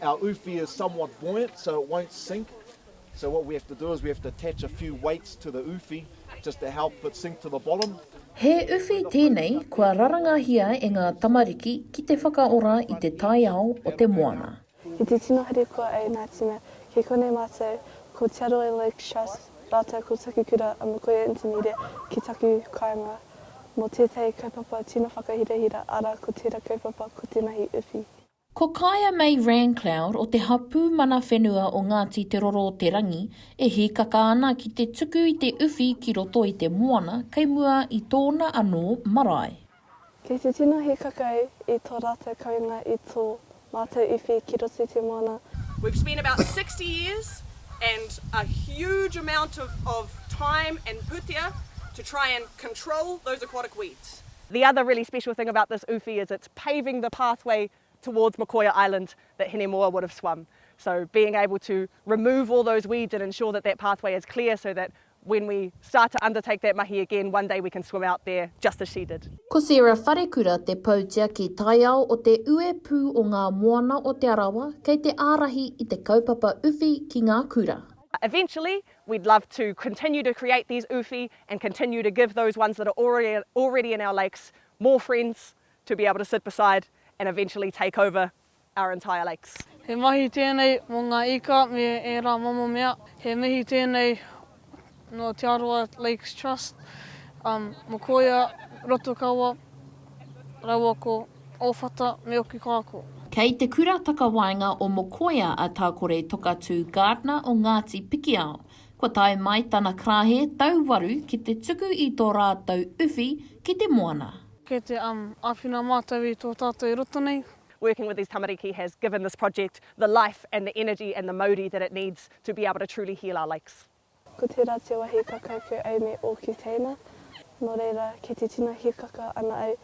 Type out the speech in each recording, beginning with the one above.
Our uwhi is somewhat buoyant so it won't sink so what we have to do is we have to attach a few weights to the uwhi just to help it sink to the bottom. He uwhi tēnei kua rarangahia e ngā tamariki ki te whakaora i te taiao o te moana. I te tino harikoa a Ina Tina, kei konei mātou, ko Te Aroha Lake Trust rātou ko taku kura a Mokoia Intinere ki taku kāinga mō tētahi kaupapa tino whakahirahira, arā ko tērā kaupapa ko Tenahi Uwhi. Ko Kaea May Rancloud o te hapū mana whenua o Ngāti Te Roro-o-te-rangi e hīkaka ana ki te tuku i te uwhi ki roto i te moana kei mua i tōna anō marae. Kei te tino hīkaka i tō rātou kounga i tō mātou uwhi ki roto i te moana. We've spent about sixty years and a huge amount of of time and pūtea to try and control those aquatic weeds. The other really special thing about this uwhi is it's paving the pathway towards Mokoia Island that Hinemoa would have swum. So being able to remove all those weeds and ensure that that pathway is clear so that when we start to undertake that mahi again, one day we can swim out there just as she did. Ko Sarah Wharekura te Poutiaki Taiao o Te Ue Pū o Ngā Moana o Te Arawa kei te ārahi i te kaupapa uwhi ki ngā kura. Eventually, we'd love to continue to create these uwhi and continue to give those ones that are already in our lakes more friends to be able to sit beside and eventually take over our entire lakes. He mahi tēnei mō ngā ika me ērā momo mea. He mihi tēnei nō Te Arawa Lakes Trust, Mokoia, Rotokawa, Rauako, Ōwhata me Okekāko. Kei te Kura Takawaenga o Mokoia a Tākore Tokatū Gardner o Ngāti Pikiao, Kua tae mai tana karāhe tau waru ki te tuku i tō rātou uwhi ki te moana. Kei te um āwhina mātou i tō tātou i roto nei. working with these tamariki has given this project the life and the energy and the mauri that it needs to be able to truly heal our lakes. Ko tērā te wahi ka kaukau au me ōku teina, nō reira, kei te tino hikaka ana au,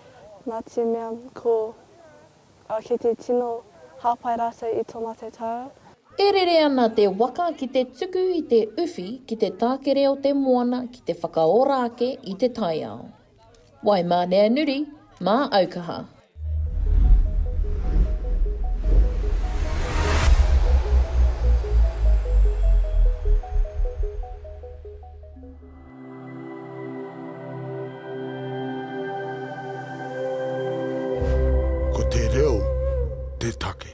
nā te mea ko. Ka kite tino hāpai rātou i tō mātou taua. E rere ana te waka ki te tuku i te uwhi ki te tākere o te moana ki te whakaora ake i te taiao. Waimāneanuri, mā Aukaha. Ko te reo te take.